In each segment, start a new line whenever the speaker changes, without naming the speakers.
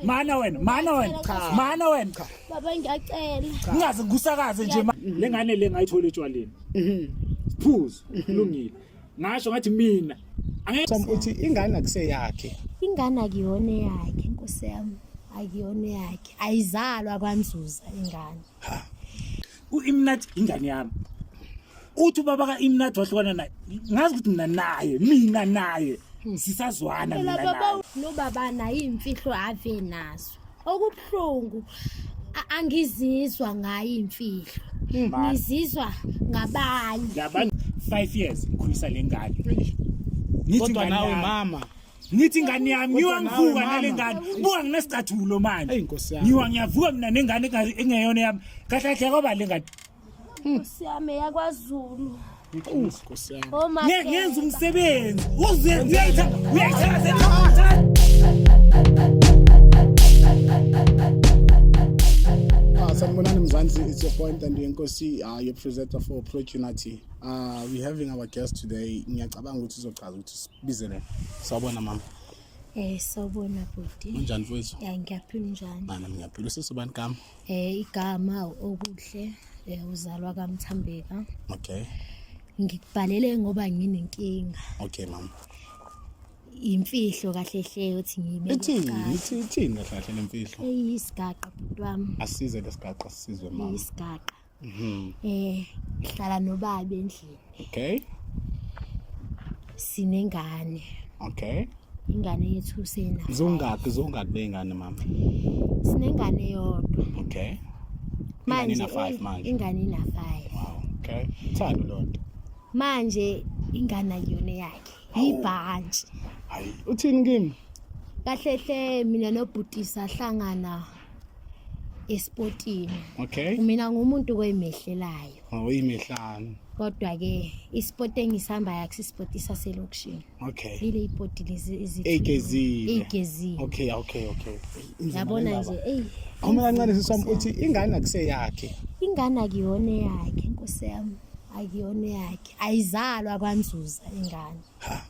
Mana wena, mana wena. Cha. Mana wena. Cha. Baba
ngiyacela. Ngingaze ngikusakaze
nje le ngane le ngayithola etshwaleni. Mhm. Phuzo, kulungile. Ngasho ngathi mina. Angeke uthi
ingane akuseyakhe. Ingane akuyona
yakhe, Nkosi yami. Akuyona yakhe. Ayizalwa kwanzuza ingane. Ha.
uImnat ingane yami uthi ubaba kaImnat wahlukana naye ngazi ukuthi mina naye mina naye sisazwana mina naye baba nobaba
naye imfihlo ave nazo okubuhlungu angizizwa ngayo imfihlo hmm. ngizizwa ngabanye 5
years ngikhulisa lengane ngithi
ngani mama ngithi ingane
yami ngiwa ngivuka nale ngane buka nginesicathulo manje ngiwa ngiyavuka
mina nengane
engeyona yami kahle kahle kwaba le ngane nkosi
yami yakwazulu
ngenza
umsebenzi
ah, sanibonani mzansi it's your point and yenkosi uh, your presenter for prochunity uh, ah, we're having our guest today ngiyacabanga ukuthi uzochaza ukuthi Bizele. Sawubona mama. Eh sawubona
bhuti. Unjani mfowethu? Ya
ngiyaphila njani?
Bana ngiyaphila usesubani
gama? Eh igama
okuhle eh uzalwa kaMthambeka. Okay.
Ngikubhalele
ngoba nginenkinga. Okay mama.
Imfihlo
kahle hle uthi ngibe. Ithini? Ithini
kahle hle lemfihlo? Eyisigaqa bhuti
wami. Asize lesigaqa
sizwe mama. Isigaqa.
Mhm. Eh ngihlala nobaba endlini. Okay. Sinengane. Okay.
Ingane yethu
sena. Zongaki zongaki
bengane mama? Sinengane
yodwa. Okay.
Manje
ina 5 manje.
Ingane ina 5. Wow. Okay. Thando lonto. Manje
ingane yona yakhe. Ibhantshi. Hayi
uthini kimi? Kahle hle
mina nobhuti sahlangana. esportini okay
mina ngumuntu
koyimehlelayo awuyimehlani
oh, kodwa ke
isport engisihamba yakho isport isaselokishini okay lile
isport lezi
ezigezile
egezile okay okay okay
yabona nje ey uma kancane sisam
uthi ingane akuseyakhe ingane akuyona
yakhe inkosi yami akuyona yakhe ayizalwa kwanzuza ingane ha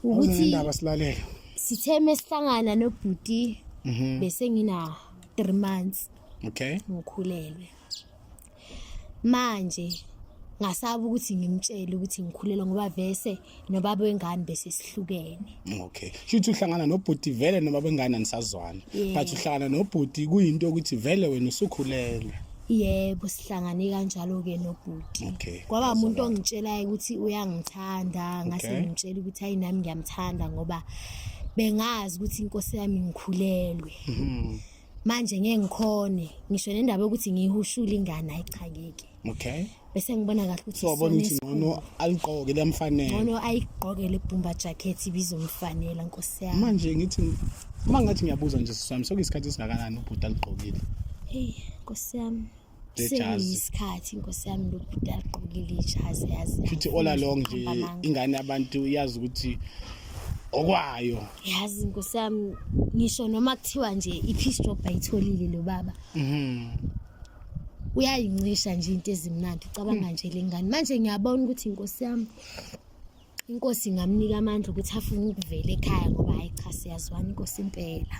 ukuthi indaba silalele sithe
mesihlangana nobhuti mhm. bese ngina 3 months okay
ngikhulelwe
manje ngasaba ukuthi ngimtshele ukuthi ngikhulelwe ngoba vese nobaba wengane bese sihlukene okay shuthi
uhlangana nobhuti vele nobaba wengane anisazwana but uhlangana nobhuti kuyinto ukuthi vele wena usukhulelwe yebo
sihlangane kanjalo-ke nobhuti okay. kwaba umuntu
ongitshelayo
ukuthi uyangithanda ngase okay. ngimtshela ukuthi hayi nami ngiyamthanda ngoba bengazi ukuthi inkosi yami ngikhulelwe mm -hmm. manje ngeke ngikhone ngisho nendaba yokuthi ngiyihushule ingane ayichangeke okay bese
ngibona kahle
ukuthi so wabona ukuthi ngcono
aligqoke liyamfanela ngcono ayigqoke
le bumba jacket ibizomfanela nkosi yami manje ngithi
uma ngathi ngiyabuza nje sisami sokuyisikhathi esingakanani ubhuti aligqokile hey
nkosi yami seyisikhathi nkosi yami lobhuti aligqokile ijazi yazi futhi all along nje
ingane abantu iyazi ukuthi okwayo yazi
nkosi yami ngisho noma kuthiwa nje i-peace job ayitholile lo baba mhm uyayincisha nje into ezimnandi ucabanga hmm. nje lengane manje ngiyabona ukuthi inkosi yami inkosi ingamnika amandla ukuthi afune ukuvela ekhaya ngoba hayi cha siyazwana inkosi impela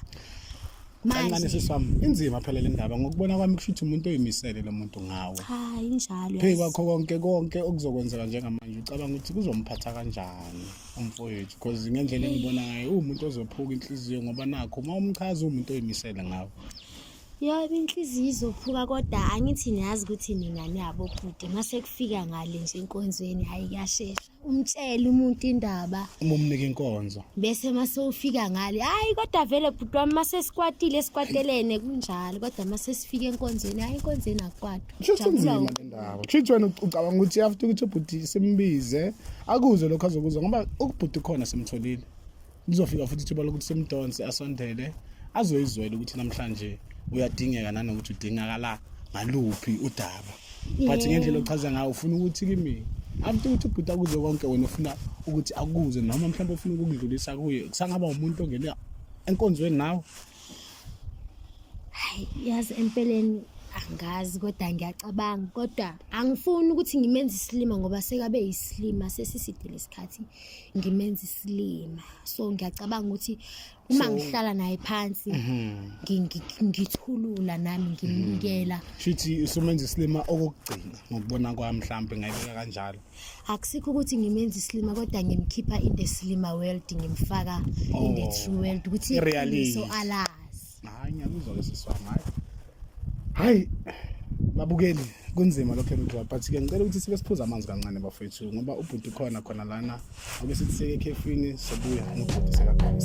manje sisi wami inzima phela le ndaba ngokubona kwami kusho ukuthi umuntu oyimisele lo muntu ngawe cha injalo
phezu kwakho konke
konke okuzokwenzeka njengamanje ucabanga ukuthi kuzomphatha kanjani umfowethu because ngendlela engibona ngayo uwumuntu ozophuka inhliziyo ngoba nakho uma umchaza uwumuntu oyimisele ngawe Yobe
inhliziyo izophuka kodwa angithi niyazi ukuthi nina niyabobhuti mase kufika ngale nje enkonzweni hayi kuyashesha umtshele umuntu indaba uma umnika inkonzo
bese mase ufika
ngale hayi kodwa vele bhuti wami mase sikwatile sikwatelene kunjalo kodwa mase sifika enkonzweni hayi enkonzweni akwatwa kushuthi nzima le ndaba
kushuthi wena ucabanga ukuthi after ukuthi ubhuti simbize akuze lokho azokuzwa ngoba ukubhuti khona simtholile Lizofika futhi ithuba lokuthi simdonse asondele azoyizwela ukuthi namhlanje uyadingeka nanokuthi udingakala ngaluphi udaba but ngendlela ochaza ngayo ufuna ukuthi kimi after ukuthi ubhuta kuze konke wena ufuna ukuthi akuze noma mhlawumbe ufuna ukukudlulisa kuye kusangaba umuntu ongena enkonzweni
nawe
hayi
yazi
empeleni
angazi kodwa ngiyacabanga kodwa angifuni ukuthi ngimenze isilima ngoba sekabe yisilima sesisidile isikhathi ngimenza isilima so ngiyacabanga ukuthi uma So- ngihlala naye phansi ngi- ngi- ngithulula nami ngimnikela Shithi usumenza
isilima okokugcina ngokubona kwami mhlambe ngayibeka kanjalo. akusikho ukuthi
ngimenza isilima kodwa ngimkhipha in the silima world ngimfaka in the Oh, true world ukuthi i-reality. iqiniso alazi Hayi ngiyakuzwa
lesiswa hayi. Hayi babukeli kunzima lokho emdlalo but ke ngicela ukuthi sibe siphuza amanzi kancane bafethu ngoba ubhuti khona khona lana obe sithi seke ekhefini sobuya ngibhuti sekakhona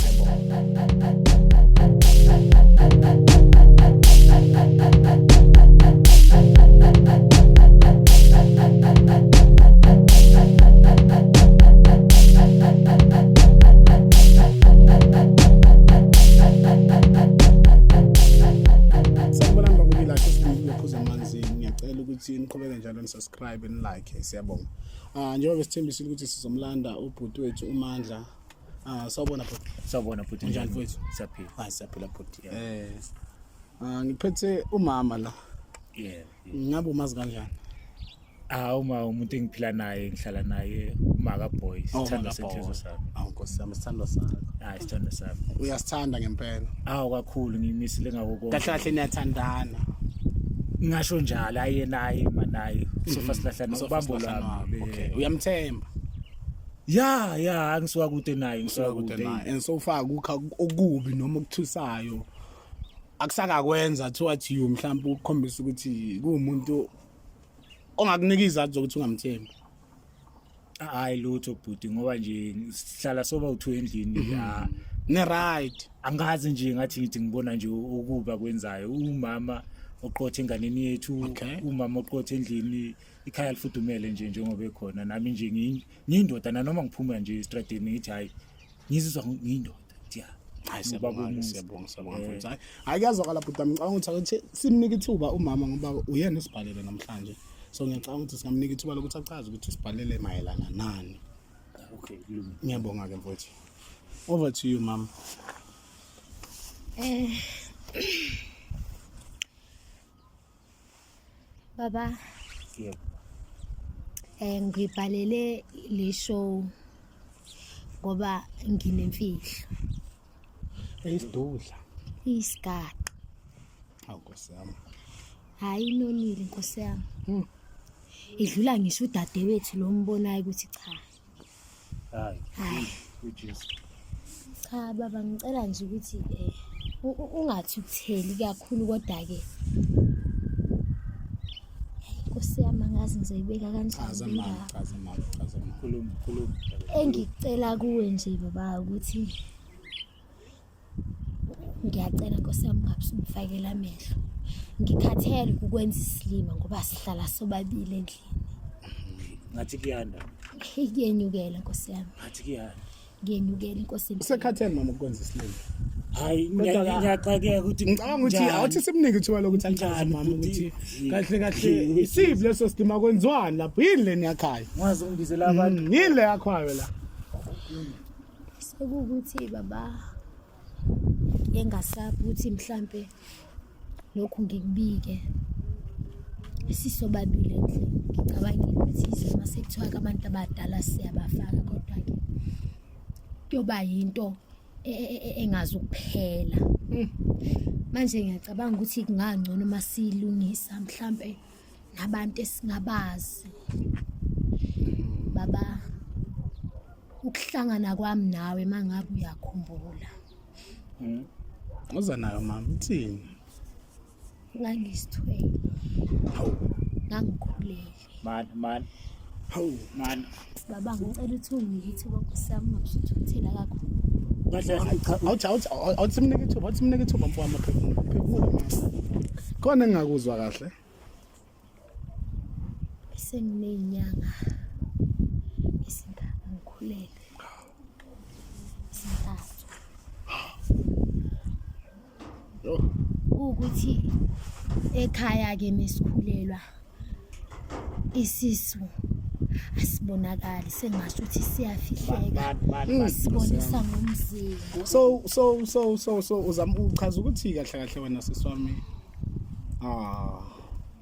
ukuthi niqhubeke njalo nisubscribe nilike siyabonga ah njengoba besithembisile ukuthi sizomlanda ubhuti wethu umandla ah sawubona
bhuti sawubona bhuti njani mfowethu siyaphila
hayi siyaphila
bhuti
eh ah ngiphethe umama la yeah ngabe umazi kanjani hawu
ma umuntu engiphila naye ngihlala naye umaka boy Oh, sithanda Maka Boy. senhliziyo sami awu nkosi yami sithandwa
sakho hayi sithanda sami
uyasithanda ngempela
hawu kakhulu
ngimisile ngako kahle konke kahle niyathandana ngasho njalo aye naye manaye sofa silahlana Sofa ubambo silahlana lwami wabo. Okay, uyamthemba
ya
ya angisuka kude naye ngisuka kude kude naye and so
far kukha okubi noma okuthusayo akusakakwenza towards you mhlawumbe ukukhombisa ukuthi kuwumuntu ongakunika izathu zokuthi ungamthembi
hayi lutho bhuti ngoba nje sihlala soba uthu endlini mhm. la ne
right angazi nje ngathi
ngithi ngibona nje ukuba kwenzayo umama oqothe enganeni yethu umama oqothe endlini ikhaya lifudumele nje njengoba ekhona nami nje ngiyindoda nanoma ngiphuma nje estradini ngithi hayi ngizizwa ngiyindoda hayi siyabonga
siyabonga siyabonga eh. mfundisi hayi hayi kuyazwakala bhuti wami ngicabanga ukuthi akuthi simnike ithuba umama ngoba uyena usibhalele namhlanje so ngiyacabanga ukuthi singamnika ithuba lokuthi achaze ukuthi usibhalele mayelana nani okay
ngiyabonga ke
mfowethu over to you mama eh
Baba. Yebo. Eh ngibhalele le show ngoba nginemfihlo. Eyisidudla.
Isigaqa. Hawu Nkosi yami. Hayi
inonile Nkosi yami. Hmm. Idlula ngisho udadewethu lo mbonayo ukuthi cha.
Hayi. Ujesu. Cha
baba ngicela nje ukuthi eh ungathukutheli kakhulu kodwa ke Nkosi yami angazi ngizoyibeka kanjani
engicela
kuwe nje baba ukuthi ngiyacela nkosi yami ungabe usumfakela amehlo ngikhathele ukukwenza isilima ngoba sihlala sobabili endlini
ngathi kuyanda Hey, kuyenyukela
nkosi yami ngathi kuyanda
ngiyenyukela inkosi
yami. usekhathele mama ukwenza isilima
hayi Kodwa ngiya-
ka- ngiyaxakeka ukuthi ngicabanga ukuthi njani. awuthi
simnike ithuba lokuthi achaze Njani, mama bhuti? ukuthi Yini? kahle kahle Yini? isiphi leso silima kwenziwani lapho yini leni yakhayo ngazi ungibizela abantu
Mm, yini le yakhayo la
sekuwukuthi
baba engasabi ukuthi mhlampe lokhu ngikubike sisobabili endlini ngicabangile ukuthi izima sekuthiwa ke abantu abadala siyabafaka kodwa-ke kuyoba yinto e, e, e, engazi ukuphela hmm. manje ngiyacabanga ukuthi kungangcono uma siyilungisa mhlampe nabantu esingabazi baba ukuhlangana kwami nawe mangabe uyakhumbula hmm.
uza nayo mama uthini ngangisithwele
hawu ngangikhulele mani mani
hawu mani
Baba ngicela ukuthi unginike ithuba Nkosi yami ungabusuthukuthela kakhulu. Kahle hayi cha awuthi awuthi
awuthi simnike ithuba awuthi simnike ithuba mfowami phefumula phefumula mama. Khona engingakuzwa kahle.
Senginenyanga esingaka ngikhulele. Sintathu. ukuthi ekhaya-ke mesikhulelwa isisu asibonakali sengasho ukuthi siyafihleka sibonisa ngomzimba so so
so so so uzama uchaza ukuthi kahle kahle wena siswami ah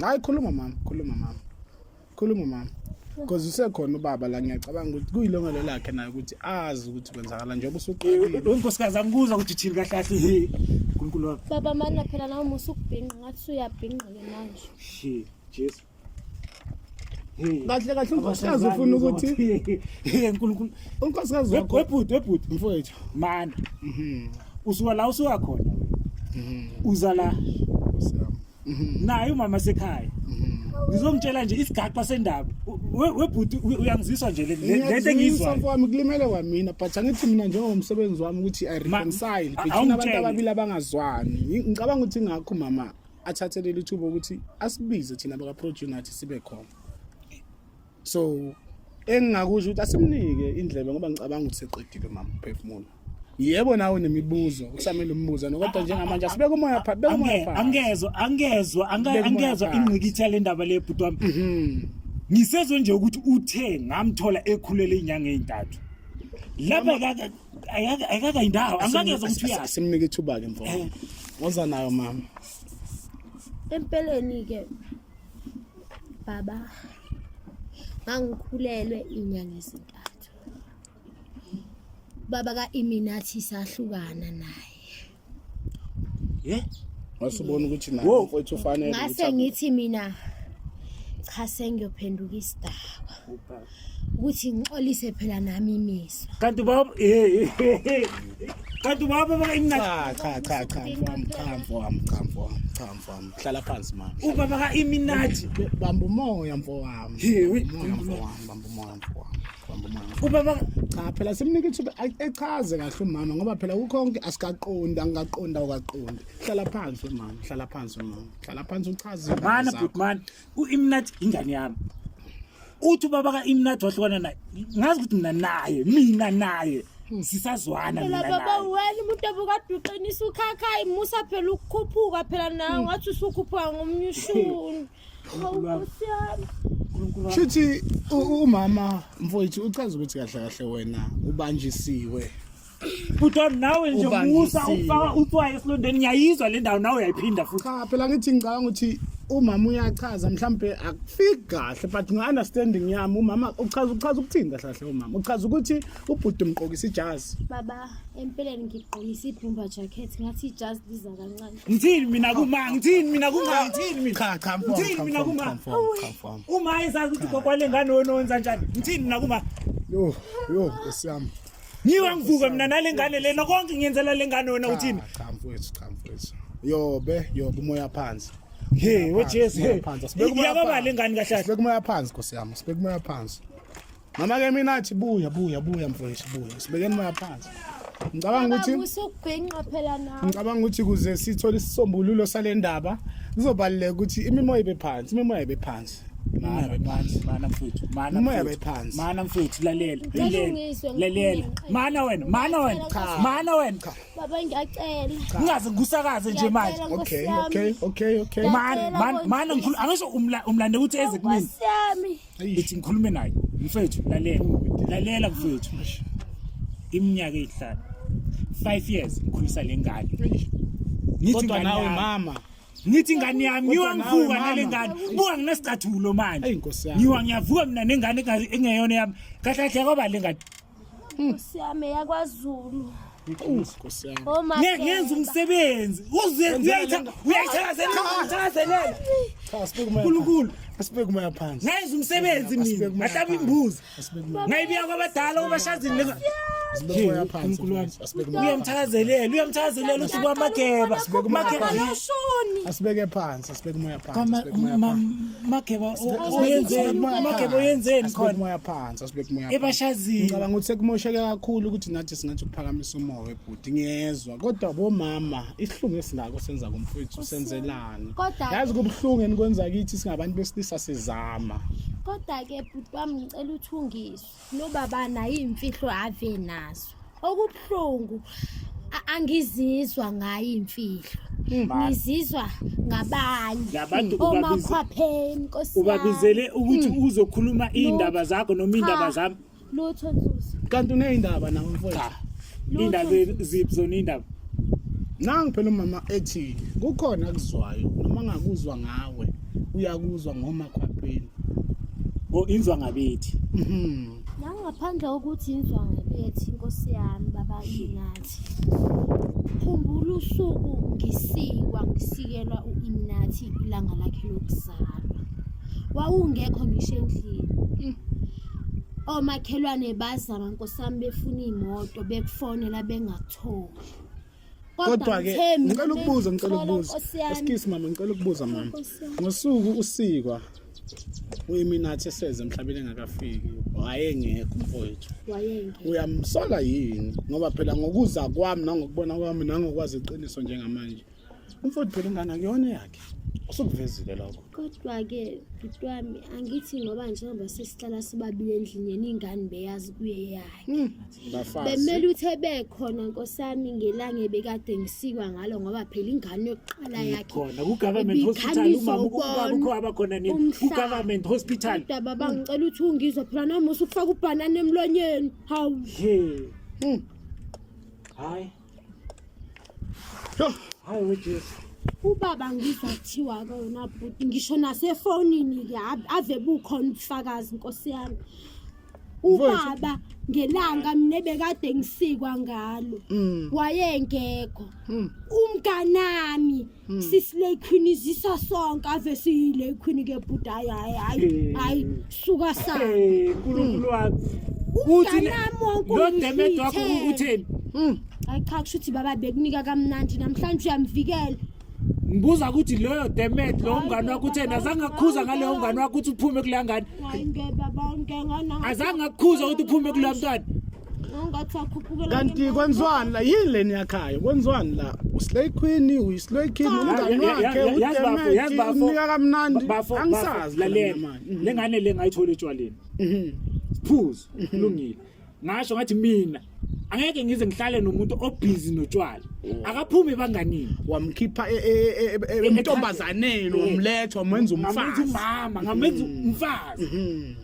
hayi khuluma mama khuluma mama khuluma mama because usekhona ubaba la ngiyacabanga ukuthi kuyilongelo lakhe naye ukuthi azi ukuthi kwenzakala njengoba usuqalile unkosikazi angikuzwa
ukuthi thini kahle kahle uNkulunkulu wami baba mana phela nawe
musa ukubhinqa ngathi uyabhinqa ke manje shi jesu
kahle kahle unkosikazi ufuna ukuthi unkulunkulu
unkosikazi wakho
webhuti webhuti mfowethu mana
mhm. usuka la usuka khona mhm. uza la mhm. naye umama sekhaya ngizomtshela nje isigaxa sendaba webhuti uyangiziswa nje lento engiyizwa mfowami kulimele kwamina
but angithi mina njengomsebenzi wami ukuthi i reconcile between abantu ababili abangazwani ngicabanga ukuthi ngakho mama athathe leli thuba ukuthi asibize thina bakaproduce nathi sibe khona so engingakusho ukuthi asimnike indlebe ngoba ngicabanga ukuthi seqedile mama uphefumulo yebo nawe nemibuzo kusamele umbuza nokodwa njengamanje asibeke umoya pha beka umoya pha angezwa angezwa
angezwa ingqikitha le ndaba le bhuti wami mhm. ngisezwe nje ukuthi uthe ngamthola ekhulele inyanga ezintathu laba Ayaka ayaka indawo. Angakezwa ukuthi uya. Simnike ithuba ke
mfowethu. Eh. Woza nayo mama. Empeleni
ke baba ngangikhulelwe inyanga ezintathu. Baba ka Iminathi sahlukana naye. ye wasubona ukuthi
naye Wo. mfowethu ufanele ukuthi ngase abu- ngithi mina
cha sengiyophenduka isidakwa ukuthi ngixolise phela nami imizwa kanti ubaba eh, eh, eh.
kanti ubaba baka imnandi cha cha cha cha mfowami cha mfowami cha
mfowami cha mfowami hlala phansi mama ubaba ka iminati
bamba umoya
mfowami He, we- Umoya, mfowami bamba umoya mfowami ubaba cha phela simnika ithuba echaze kahle umama ngoba phela kukhonke asikaqondi angikaqondi awukaqondi hlala phansi wemama hlala phansi wemama hlala phansi uchaze mana butman
uimnat ingane yami uthi ubaba kaimnat wahlukana naye ngazi ukuthi mina naye mina naye hmm. sisazwana mina naye baba
wena umuntu obukaduqinisa ukhakhayi musa phela ukukhuphuka phela nawe hmm. ngathi usukhuphuka ngomnyushuni
Shuthi umama mfowethu uchaza ukuthi kahle kahle wena ubanjisiwe Bhuti
nawe nje musa ufaka utswayi esilondeni ngiyayizwa le ndawo nawe uyayiphinda futhi. Cha phela ngithi ngicabanga
ukuthi umama uyachaza mhlambe akufiki kahle but ngi understanding yami umama uchaza uchaza ukuthini kahle kahle umama uchaza ukuthi ubhuti umqokisa ijazi baba
empeleni ngigqokisa ibhumba jacket ngathi ijazi liza kancane Ngithini mina kuma
ngithini mina kuma ngithini mina cha cha mfo ngithini mina kuma uma ezazi ukuthi gogo wale ngane ononza njani ngithini mina kuma yo yo
nkosi yami ngiwa
ngivuka mina nale ngane lena konke ngiyenzela le ngane wena uthini cha mfowethu cha
mfowethu yobe yobe umoya phansi hey wejesu
hey sibeka umoya phansi kahle kahle sibeka umoya phansi nkosi yami
sibeka umoya phansi Mama ke mina athi buya buya buya mfowethu buya. Sibekeni moya phansi. Ngicabanga ukuthi usubhenqa phela
nawe. Ngicabanga ukuthi kuze
sithole isisombululo salendaba kuzobaleka ukuthi imimoya ibe phansi, imimoya ibe phansi. Mana phansi,
mana mfethu, mana imimoya ibe phansi. Mana mfethu lalela, lalela. Lalela. Mana wena, mana wena. Mana wena. Baba
ngiyacela. Ungaze ngikusakaze
nje manje. Okay, okay, okay,
okay. Mana,
mana ngikhulu angisho umlande ukuthi eze kumina.
ithi ngikhulume
naye mfethu lalela lalela mfethu iminyaka eyihlanu 5 years ngikhulisa lengane ngithi
kodwa ingane nawe yami- mama ngithi ingane yami
Kodwa ngiwa nawe, ngivuka mama. nale ngane buka nginesicathulo manje Eyi, Nkosi yami. ngiwa ngiyavuka mina nengane enga- engeyona yami kahle kahle kwaba le ngane Nkosi yami
yakwaZulu. Nkosi
yami. Oh my. Ngeke yenza
umsebenzi. Uze uyayithatha uyayithathelela uyayithathelela. Cha sibeke moya. Nkulunkulu. Asibeke moya
phansi. Ngenza umsebenzi
mina. Ngahlaba imbuzi. Ngayibiya kwabadala ubashazini leza. Sibeke moya
phansi. Asibeke moya. Uyamthakazelela
uyamthakazelela uthi kwamageba.
Asibeke phansi. Sibeka umoya phansi. Kama sibeka umoya ma- phansi. makeba
o- Sibeka- oyenzeni sibeka umoya makeba phansi. oyenzeni Asibeke khona umoya phansi, asibeke umoya
phansi. ebashazini Ngicabanga ukuthi
sekumosheke
kakhulu ukuthi nathi singathi ukuphakamisa umoya webhuti ngiyezwa kodwa bomama isihlungu esinako senza kumfowethu senzelani Kodwa- yazi kubuhlungu enikwenza kithi singabantu besilisa sizama
kodwa-ke bhuti wami ngicela uthungiswe nobaba nayo iy'mfihlo ave nazo okubuhlungu a- angizizwa ngayo iy'mfihlo ngizizwa ngabanye Ngabantu ubabiza-
omakhwapheni
nkosi yami. ubabizele ukuthi
uzokhuluma iy'ndaba zakho noma iy'ndaba Cha, zami lutho nzuzo
kanti uneyindaba
nawe mfowethu cha Lutho. iy'ndaba
ziphi zona iy'ndaba nangu
phela umama ethi kukhona akuzwayo noma ngakuzwa ngawe uyakuzwa ngomakhwapheni o
oh, inzwa ngabethi mhm
nangaphandle kokuthi inzwa ngabethi inkosi yami baba inathi khumbula usuku ngisikwa ngisikelwa uImnathi ilanga lakhe lokuzalwa wawungekho ngisho endlini mm. omakhelwane bazama nkosami befuna imoto bekufonela bengatholi kodwa
ke ngicela ukubuza ngicela ukubuza excuse mama ngicela ukubuza mama ngosuku usikwa uyiminathi eseze emhlabeni engakafiki wayengekho mfowethu uyamsola yini ngoba phela ngokuza kwami nangokubona kwami nangokwazi iqiniso njengamanje umfowethu phela ingane akuyona yakhe usukuvezile lokho Kodwa-ke
bhuti wami angithi ngoba njengoba sesihlala sibabile endlini yena ingane beyazi kuye yakhe Hmm, bafazi. bemele ukuthi ebekhona nkosi yami ngelanga ebekade ngisikwa ngalo ngoba phela ingane yokuqala yakhe khona ku-government hospital
Ibikhanyiswa umama ubaba ukubona ukho abakhona nini umhlaba. ku-government hospital kodwa baba ngicela ukuthi
ungizwe phela namusa ukufaka ubhanana emlonyeni hawu He. Hmm. hayi
hayi wejesu ubaba ngizwa
kuthiwa kona bhuti ngisho nasefonini ke ave- ave bukhona ubufakazi nkosi yami ubaba ngelanga mina bekade ngisikwa ngalo wayengekho umnganami Hmm. sisilay queen izisa sonke ave siyilay queen ke bhuti hayi hayi hayi Eh. hayi suka sana Eh, uNkulunkulu wami.
Uthi le- Umnganami
wonke lo demet wakho
ungifithele. utheni? Mm. hayi cha
kusho ukuthi baba bekunika kamnandi namhlanje uyamvikela Ngibuza
ukuthi loyo demet lo mngani wakho utheni azange akukhuza ngaleyo mngani wakho ukuthi uphume kuleya ngane. hayi ngeke baba
ngeke ngana Azange akukhuza ukuthi
uphume kuleya mntwana. Ngathi
akhuphukela kanti kwenziwani
la yini le niyakhayo kwenziwani la uslay queen uyislay king umngani Ya- ya- wakhe ya- yazi bafo, yazi bafo. unika kamnandi Bafo, angisazi bafo, lalela. mina manje. Mhm.
lengane le ngayithola etshwaleni phuzo kulungile ngasho ngathi mina angeke ngize ngihlale nomuntu obhizi notshwala akaphumi banganini wamkhipha e- e-
e- e- emntombazaneni wamletha wamenza ngamenza umfazi umama ngamenza
umfazi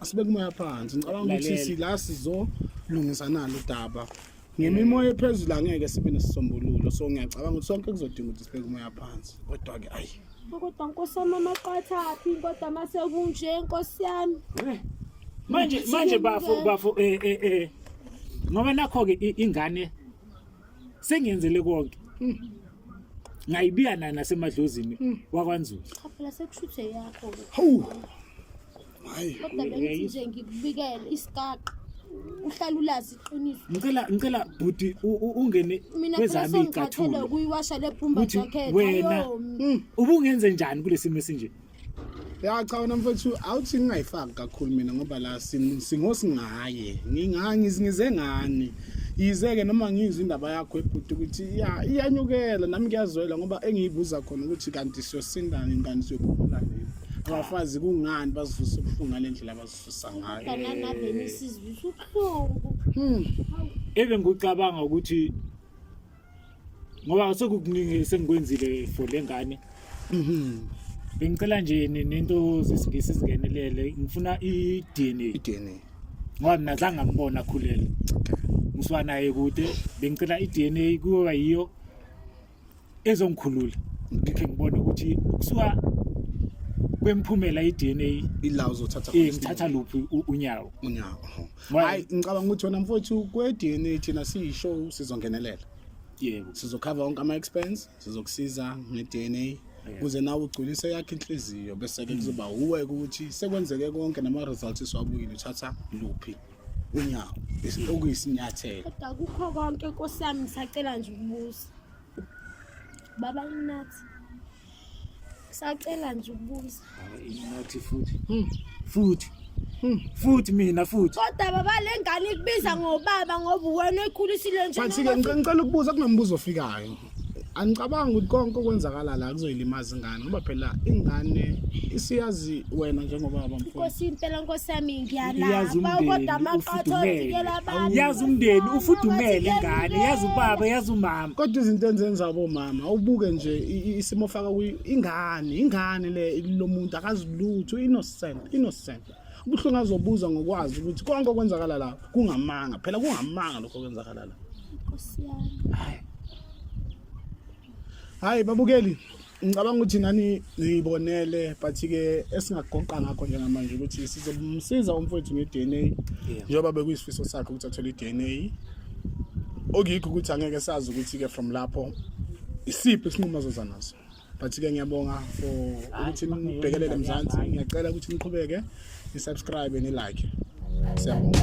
asibe kumaya phansi ngicabanga ukuthi Lalela. sila sizolungisa nalo udaba ngemimoya ephezulu angeke sibe nesisombululo so ngiyacabanga ukuthi sonke kuzodinga ukuthi sibe kumaya phansi kodwa-ke ayi kodwa nkosi yami
amaqathaphi kodwa uma sekunje nkosi yami Eh, manje
manje bafo bafo eh eh eh ngoba nakho ke i- ingane sengiyenzele konke ngayibiya nana semadlozini wakwanzulu cha phela sekushuthe
yakho-ke hawu
kodwa bengithi
nje ngikubikele isigaqa uhlala ulazi iqiniso ngicela ngicela bhuti
u- u- ungene mina phela kwezami sengikhathele icathulo ukuyiwasha le bhumba
ukuthi jacket wena ayomi
ubungenze njani kulesimo esinje ya
cha wena mfethu awuthi ngingayifaki kakhulu mina ngoba la sin- singosingaye nginga- ngiz- ngize ngani yize-ke noma ngizwa indaba yakho ebhuti ukuthi iya- iyanyukela nami ngiyazwela ngoba engiyibuza khona ukuthi kanti siyosinda nini kanti siyophumula nini abafazi kungani bazivuse ubuhlungu ngale ndlela abazivusa ngayo kananabeni
sizivisa ubuhlungu Hmm.
Ebe ngicabanga ukuthi ngoba sekukuningi sengikwenzile for lengane. Mhm. Bengicela nje ni- nento zesingisi singenelele. Ngifuna i-DNA i-DNA ngoba mina zange ngambona akhulele. Ngisuka naye kude. Bengicela i-DNA kuyoba yiyo ezongikhulula ngikhe ngibone ukuthi kusuka kwemphumela i-DNA ila uzothatha eh
ngithatha luphi u-
unyawo unyawo Why?
hayi ngicabanga ukuthi wena mfowethu kwe-dna thina siyishow sizongenelela yebo sizokhava wonke
ama-expense
sizokusiza nge-dna kuze nawe ugculise yakhe inhliziyo bese-ke kuzoba wuwe ukuthi sekwenzeke konke nama-results esiwabuyile uthatha luphi unyawo okuyisinyathelo kodwa kukho
konke nkosi yami ngisacela nje ukubuza baba inathi sacela nje ukubuza inathi
futhi hmm, futhi hmm, futhi mina futhi kodwa baba le ngane
ikubiza ngobaba ngoba wena ekhulisile nje ngicela ukubuza
kunombuzo ofikayo angicabangi ukuthi konke okwenzakala la kuzoyilimaza ingane ngoba phela ingane isiyazi wena njengobaba mfowethu Nkosi impela Nkosi yami
Iyazi ngiyalapha umndeni, kodwa amaqatha ufudumele. ovikela abantu yazi umndeni
ufudumele ingane yazi ubaba yazi umama kodwa izinto enzenza
abomama ubuke nje i- i- isimo faka kuyo ingane ingane le kulomuntu akazilutho innocent innocent Kubuhlungu azobuza ngokwazi ukuthi konke okwenzakala la kungamanga. Phela kungamanga lokho okwenzakala la. Nkosi
yami.
Hayi. Hayi babukeli. Ngicabanga ukuthi nani niyibonele but ke esingagoqa ngakho njengamanje ukuthi sizomsiza umfowethu ngeDNA njengoba bekuyisifiso sakhe ukuthi athole iDNA okuyikho ukuthi angeke sazi ukuthi ke from lapho isiphi isinqumo azozanaso but ke ngiyabonga for ukuthi nibhekelele mzansi ngiyacela ukuthi niqhubeke ni subscribe ni like siyabonga